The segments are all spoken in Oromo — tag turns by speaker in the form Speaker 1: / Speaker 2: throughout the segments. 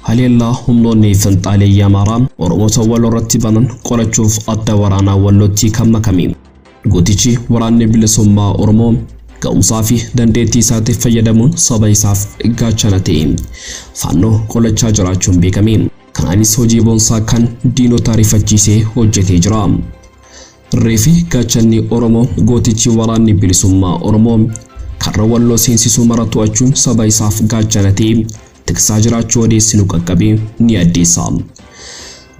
Speaker 1: Haleellaa humnoonni finxaaleeyyii Amaaraa Oromoota Walloo irratti banan qolachuuf adda waraanaa Wallootti kan makame. Gootichi waraanni bilisummaa Oromoo ga'umsaa fi dandeettii isaatiif fayyadamuun saba isaaf gaachana ta'e faannoo qolachaa jiraachuun beekame. Kanaanis hojii boonsaa kan diinota ariifachiisee hojjetee jira. Reefi gaachanni Oromoo gootichi waraanni bilisummaa Oromoo karra Walloo seensisu mara to'achuun saba isaaf gaachana ta'ee tiksaa jiraachuu odeessi nu qaqqabe ni addeessa.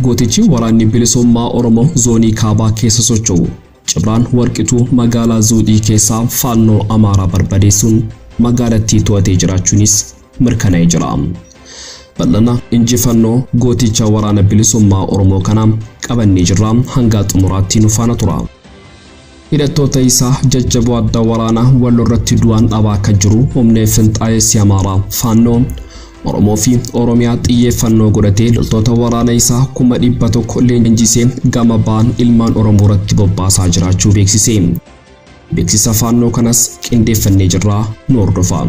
Speaker 1: Gootichi waraanni bilisummaa Oromoo zoonii kaabaa keessa socho'u Cibraan Warqituu magaalaa Zuuxii keessaa faannoo Amaaraa barbadeessuun magaalattii to'atee jiraachuunis mirkana'e jira. Bal'ana injifannoo gooticha waraana bilisummaa Oromoo kana qabannee jirra hangaa xumuraatti nu faana tura. Hidhattoota isaa jajjaboo adda waraana wallo irratti du'aan dhabaa akka jiru humni finxaayessi Amaaraa Faannoo Oromoo fi Oromiyaa xiyyeeffannoo godhatee loltoota waraana isaa kuma dhibba tokko leenjisee gama ba'an ilmaan Oromoo irratti bobbaasaa jiraachuu beeksise. Beeksisa Faannoo kanas qindeeffannee jirraa nu hordofaa.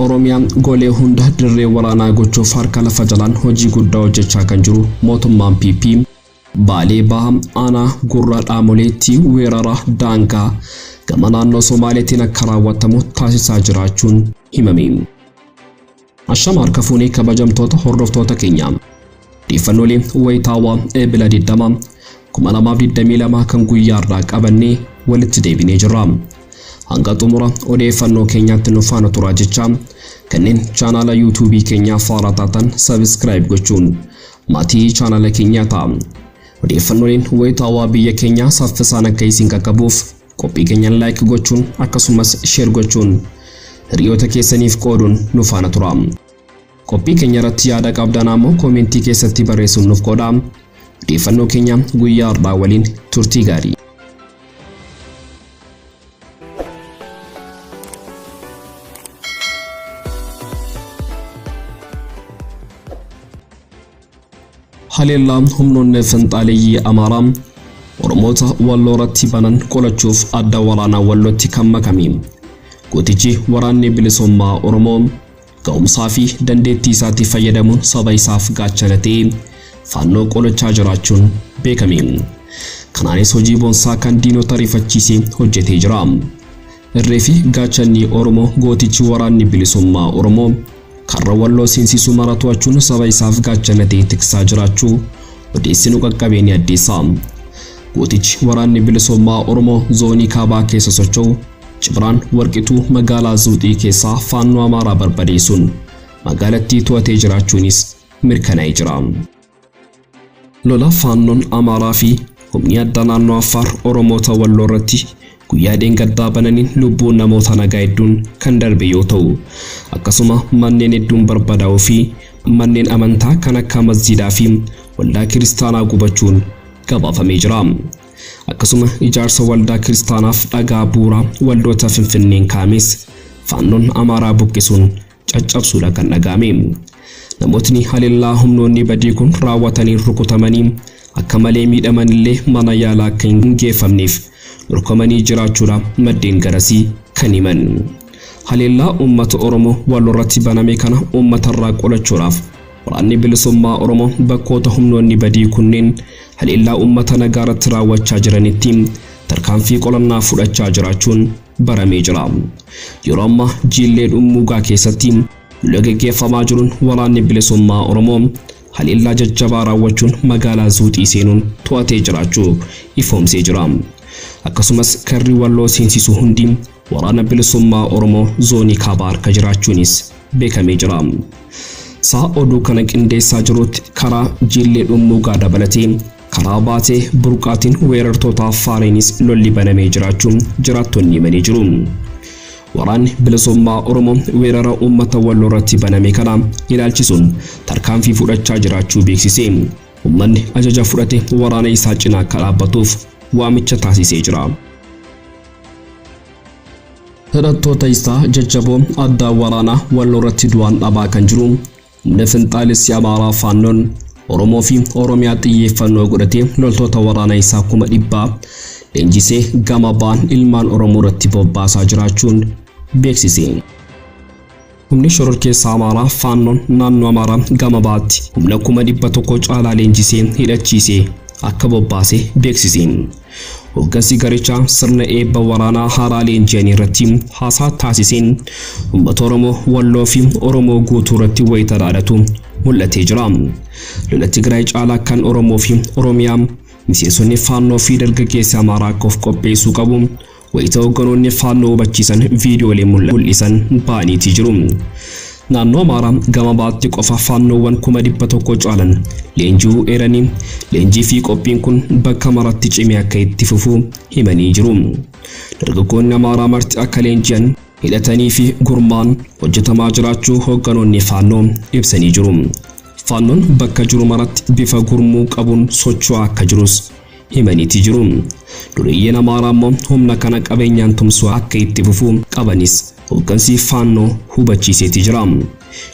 Speaker 1: Oromiyaa golee hunda dirree waraanaa gochuuf harka lafa jalaan hojii guddaa hojjechaa kan jiru mootummaan PP Baalee Baha aanaa Gurraa Dhaamoleetti weerara daangaa gama naannoo Somaaleetiin akka raawwatamu taasisaa jiraachuun himame. Ashama harka fuunee kabajamtoota hordoftoota keenya. Dhiifannoolee wayitaawaa Eebila 20 2022 kan guyyaa irraa qabannee walitti deebinee jirra. Hanga xumura odeeffannoo keenyaatti nu faana turaa jechaa kanneen chaanaala yuutuubii keenyaa faaraa taatan sabiskiraayib gochuun maatii chaanaala keenyaa ta'a. Odeeffannooleen wayitaawaa biyya keenyaa saffisaan akka isin qaqqabuuf qophii keenyaan laayik gochuun akkasumas sheer gochuun hiriyoota keessaniif qooduun nu faana turaa. Qophii keenya irratti yaada qabdaan ammoo koomentii keessatti barreessuun nuuf qoodaa. Odeeffannoo keenya guyyaa har'aa waliin turtii gaarii. Haleellaa humnoonni finxaaleyyii Amaaraa Oromoota Walloo irratti banan qolachuuf adda waraanaa Wallootti kan makame gootichi waraanni bilisummaa Oromoo ga'umsaa fi dandeettii isaatti fayyadamuun saba isaaf gaachana ta'e faannoo qolachaa jiraachuun beekame. Kanaanis hojii boonsaa kan diinota rifachiise hojjetee jira. Irree fi gaachanni Oromoo gootichi waraanni bilisummaa Oromoo karra Walloo seensisu mara to'achuun saba isaaf gaachana ta'ee tiksaa jiraachuu odeessi nu qaqqabee ni addeessa. Gootichi waraanni bilisummaa Oromoo zoonii kaabaa keessa socho'u Cibraan Warqituu magaalaa Zuuxii keessaa faannoo Amaaraa barbadeessuun magaalattii to'atee jiraachuunis mirkanaa'ee jira. Lola faannoon Amaaraa fi humni addaa naannoo Affaar Oromoota Walloo irratti guyyaa dheengaddaa bananiin lubbuun namoota nagaa hedduun kan darbe yoo ta'u, akkasuma manneen hedduun barbadaa'uu fi manneen amantaa kan akka masjiidaa fi waldaa kiristaanaa gubachuun gabaafamee jira. Akkasuma ijaarsa waldaa kiristaanaaf dhagaa bu'uuraa waldoota Finfinneen kaa'ames faannoon Amaaraa buqqisuun caccabsuudha kan dhaga'ame. Namootni haleellaa humnoonni badii kun raawwataniin rukutamanii akka malee miidhaman illee mana yaalaa akka hin geeffamneef dhorkamanii jiraachuudha maddeen garasii kan himan. Haleellaa uummata Oromoo walirratti baname kana uummatarraa qolachuudhaaf waraanni bilisummaa Oromoo bakkoota humnoonni badii kunneen haleellaa uummata nagaarratti raawwachaa jiranitti tarkaanfii qolannaa fudhachaa jiraachuun baramee jira. Yeroo ammaa jiillee dhummuugaa keessatti lola geggeeffamaa jiruun waraanni bilisummaa Oromoo haleellaa jajjabaa raawwachuun magaalaa Zuuxii seenuun to'atee jiraachuu ifoomsee jira. Akkasumas karri Walloo seensisu hundi waraana bilisummaa Oromoo zoonii kaabaa harka jiraachuunis beekamee jira. Sa'a oduu kana qindeessaa jiruutti karaa jiillee dhummuugaa dabalatee Kanaa baatee burqaatiin weerartootaa Faareenis lolli banamee jiraachuu jiraattonni himanii jiru. Waraanni Bilisummaa Oromoo weerara uummata Walloo irratti baname kana ilaalchisuun tarkaanfii fudhachaa jiraachuu beeksisee uummanni ajaja fudhate waraana isaa cina akka dhaabbatuuf waamicha taasisee jira. Hidhattoota isaa jajjaboo addaa waraanaa Walloo irratti du'aan dhabaa kan jiru Humni finxaalessi Amaaraa Faannoon Oromoo fi Oromiyaa xiyyeeffannoo godhatee loltoota waraanaa isaa kuma dhibbaa leenjisee gama ba'an ilmaan Oromoo irratti bobbaasaa jiraachuun beeksise. Humni shororkeessaa Amaaraa Faannoon naannoo Amaaraa gama ba'aatti humna kuma dhibba tokko caalaa leenjisee hidhachiisee akka bobbaase beeksise. Hoggansi garichaa sirna eebba waraanaa haaraa leenji'anii irratti haasaa taasiseen uummata Oromoo Walloo fi Oromoo guutuu irratti wayita dhaadatu mul'atee jira. Lola Tigraay caalaa kan Oromoo fi Oromiyaa miseensonni Faannoo fi dargaggeessi Amaaraa akka of qopheessuu qabu Wayita hoogganoonni Faannoo hubachiisan viidiyoolee mul'isan ba'aniitii jiru. Naannoo Amaaraa gama baatti qofa Faannoowwan kuma dhibba tokko caalan leenji'uu eeranii leenjii fi qophiin kun bakka maratti cimee akka itti fufu himanii jiru. Dargaggoonni Amaaraa marti akka leenji'an hidhatanii fi gurmaan hojjetamaa jiraachuu hoogganoonni Faannoo ibsanii jiru. Faannoon bakka jiru maratti bifa gurmuu qabuun socho'aa akka jirus himaniiti jiru. Dureeyyiin Amaaraa immoo humna kana qabeenyaan tumsuu akka itti fufu qabanis hoggansi Faannoo hubachiiseeti jira.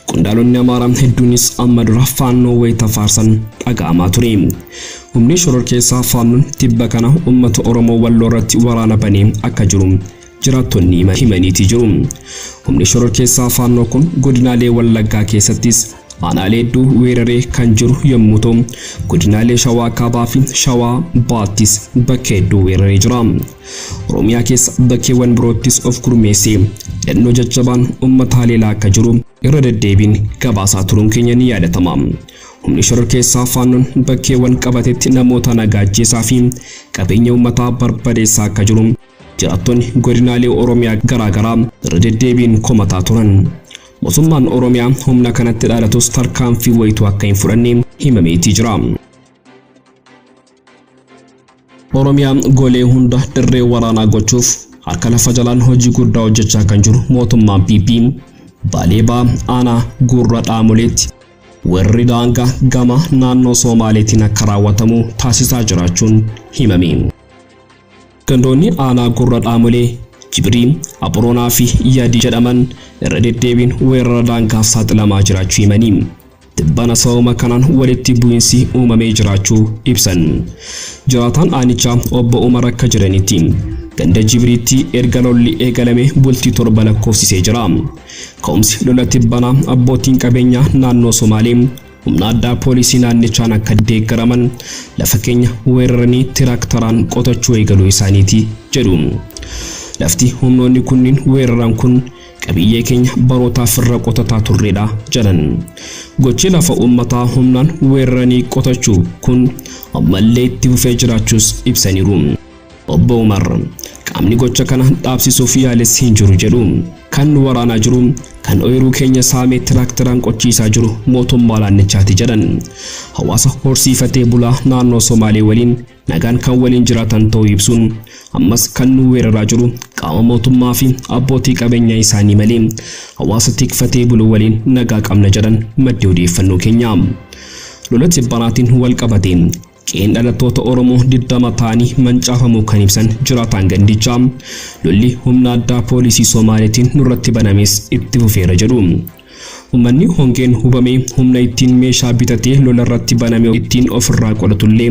Speaker 1: Qondaalonni Amaaraa hedduunis amma dura Faannoo wayita faarsan dhaga'amaa ture. Humni shororkeessaa Faannoon tibba kana uummata Oromoo Walloo irratti waraana banee akka jiru jiraattonni himaniiti jiru. Humni shororkeessaa Faannoo kun godinaalee Wallaggaa keessattis aanaalee hedduu weeraree kan jiru yommuu ta'u, godinaalee Shawaa Kaabaa fi Shawaa Baattis bakka hedduu weeraree jira. Oromiyaa keessa bakkeewwan biroottis of gurmeessee hidhannoo jajjabaan uummata haleelaa akka jiru irra deddeebiin gabaasaa turuun keenya ni yaadatama. Humni shororkeessaa Faannoon bakkeewwan qabatetti namoota nagaa ajjeesaa fi qabeenya uummataa barbadeessaa akka jiru Jiraattonni godinaalee Oromiyaa garaa garaa irra deddeebiin komataa turan. Mosummaan Oromiyaa humna kanatti dhaadatus tarkaanfii wayituu akka hin fudhanne himameetii jira. Oromiyaa golee hunda dirree waraanaa gochuuf harka lafa jalaan hojii guddaa hojjechaa kan jiru mootummaan PP Baalee Baa aanaa Gurra Dhaamoleetti warri daangaa gama naannoo Soomaaleetiin akka raawwatamu taasisaa jiraachuun himame. Gandoonni aanaa Gurra Dhaamolee, Jibrii, Aboroonaa fi Yadii jedhaman irra deddeebiin weerara daangaaf saaxilamaa jiraachuu himanii, tibbana sababuma kanaan walitti bu'insi uumamee jiraachuu ibsan. Jiraataan aanichaa Obbo Umar akka jedhanitti, ganda Jibriitti erga lolli eegalame bultii torba lakkoofsisee jira. Ka'umsi lola tibbanaa abbootiin qabeenyaa naannoo Somaalee Humna addaa poolisii naannichaan akka deeggaraman lafa keenya weeraranii tiraaktaraan qotachuu eegaluu isaaniiti jedhu. Lafti humnoonni kunniin weeraran kun qabiyyee keenya barootaaf irra qotataa turreedha jedhan. Gochi lafa uummataa humnaan weeraranii qotachuu kun ammallee itti fufee jiraachuus ibsaniiru. Obbo Umar qaamni gocha kana dhaabsisuuf yaales hin jiru jedhu. Kan nu waraanaa jiru, kan ooyiruu keenya saamee tiraakteraan qochiisaa jiru mootummaa naannichaati jedhan. Hawaasa horsiifatee bulaa naannoo Somaalee waliin nagaan kan waliin jiraatan ta'uu ibsuun, ammas kan nu weeraraa jiru qaama mootummaa fi abbootii qabeenyaa isaanii malee hawaasa tikfatee bulu waliin nagaa qabna jedhan maddi odeeffannoo keenya. Lola tibbanaatiin wal qabatee Qe'een dhalattoota Oromoo 20 ta'anii mancaafamuu kan ibsan jiraataan gandichaa, lolli humna addaa poolisii Somaaleetiin nurratti banames itti fufeera jedhu. Ummanni hongeen hubame humna ittiin meeshaa bitatee lolarratti baname ittiin ofirraa qolatu illee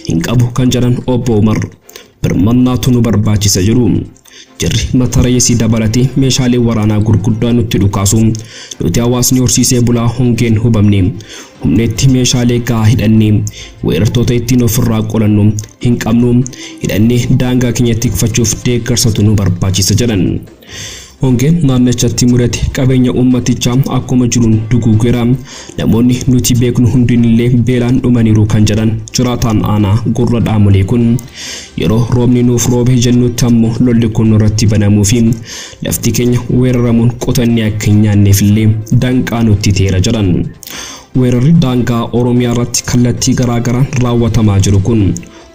Speaker 1: hin qabu kan jedhan Obbo Umar, Birmannaatu nu barbaachisa jedhu. Jarri matareesii dabalatee meeshaalee waraanaa gurguddaa nutti dhukaasu. Nuti hawaasni horsiisee bulaa hongeen hubamne. Humna itti meeshaalee gahaa hidhannee weerartoota ittiin ofirraa qolannu hin qabnu. Hidhannee daangaa keenya tikfachuuf deeggarsatu nu barbaachisa jedhan. Hongeen naannichatti mudate qabeenya uummatichaa akkuma jiruun duguugeera. Namoonni nuti beeknu hundinillee beelaan dhumaniiru kan jedhan jiraataan aanaa Gurra Dhaamolee kun yeroo roobni nuuf roobe jennutti ammoo lolli kun nurratti banamuu fi lafti keenya weeraramuun qotannee akka hin nyaanneefillee danqaa nutti ta'eera jedhan. Weerarri daangaa Oromiyaa irratti kallattii garaagaraan raawwatamaa jiru kun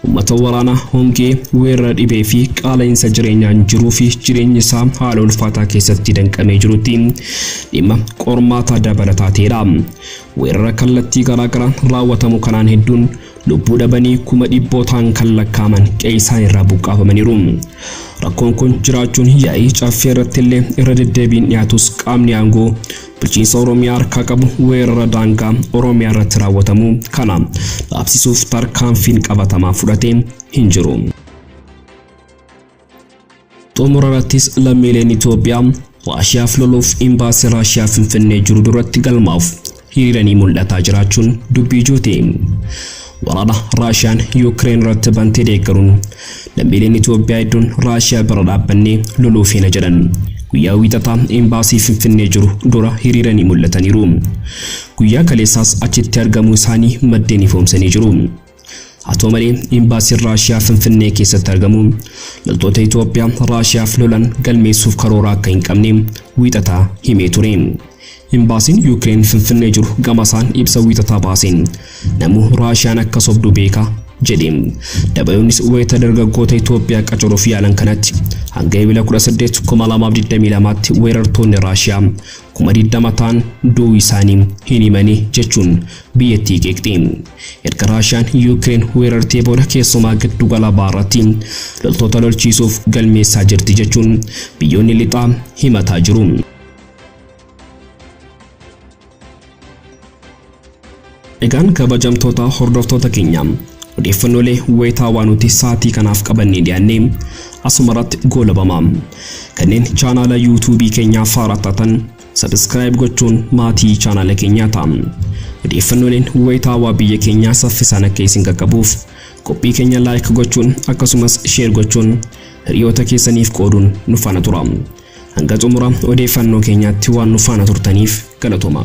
Speaker 1: Ummata waraana, hongee, weerara dhibee fi qaala'insa jireenyaan jiruu fi jireenyi isaa haala ulfaataa keessatti danqamee jirutti dhimma qormaata dabalataa ta'edha. Weerara kallattii garaa garaan raawwatamu kanaan hedduun lubbuu dhabanii kuma dhibbootaan kan lakkaa'aman qe'ee isaaniirraa buqqaafamaniiru. Rakkoon kun jiraachuun yaa'ii caffee irratti illee irra deddeebiin dhiyaatus qaamni aangoo Bulchiinsa Oromiyaa harkaa qabu weerara daangaa Oromiyaa irratti raawwatamu kana dhaabsisuuf tarkaanfiin qabatamaa fudhate hin jiru. Xumura irrattis lammiileen Itoophiyaa Raashiyaaf loluuf imbaasii Raashiyaa Finfinnee jiru duratti galmaa'uuf hiriiranii mul'ataa jiraachuun dubbii ijooti. Waraana Raashiyaan Yuukireen irratti bantee deeggaruun lammiileen Itoophiyaa hedduun Raashiyaa bira dhaabbannee loluu feena jedhan. Guyyaa wiixataa imbaasii Finfinnee jiru dura hiriiranii mul'ataniiru. Guyyaa kaleessaas achitti argamuu isaanii maddeen ifoomsanii jiru. Haa ta'u malee imbaasiin Raashiyaa Finfinnee keessatti argamu loltoota Itoophiyaa Raashiyaaf lolan galmeessuuf karoora akka hin qabne wiixataa himee ture. Imbaasiin Yuukireen Finfinnee jiru gamasaan ibsa Wiixataa baaseen namuu Raashiyaan akka sobdu beeka jedhe. Dabayoonnis wayita dargaggoota Itoophiyaa qacaruuf yaalan kanatti hanga Ebila 18, 2022tti weerartoonni Raashiyaa 20,000 ta'an du'uu isaanii hin himani jechuun biyyattii qeeqxe. Erga Raashiyaan Yuukireen weerartee booda keessumaa giddu gala bahaarratti loltoota lolchiisuuf galmeessaa jirti jechuun biyyoonni lixaa himataa jiru. Egaan kabajamtoota hordoftoota keenya odeeffannoolee wayitaawaa nuti sa'aatii kanaaf qabannee dhiyaannee asuma irratti goolabama. Kanneen chaanaala yuutuubii keenyaa faaraa taatan sabiskiraayib gochuun maatii chaanaala keenyaa ta'a. Odeeffannooleen wayitaawaa biyya keenyaa saffisaan akka isin qaqqabuuf qophii keenya laayik gochuun akkasumas sheer gochuun hiriyoota keessaniif qooduun nu faana tura. Hanga xumura odeeffannoo keenyaatti waan nu faana turtaniif galatooma.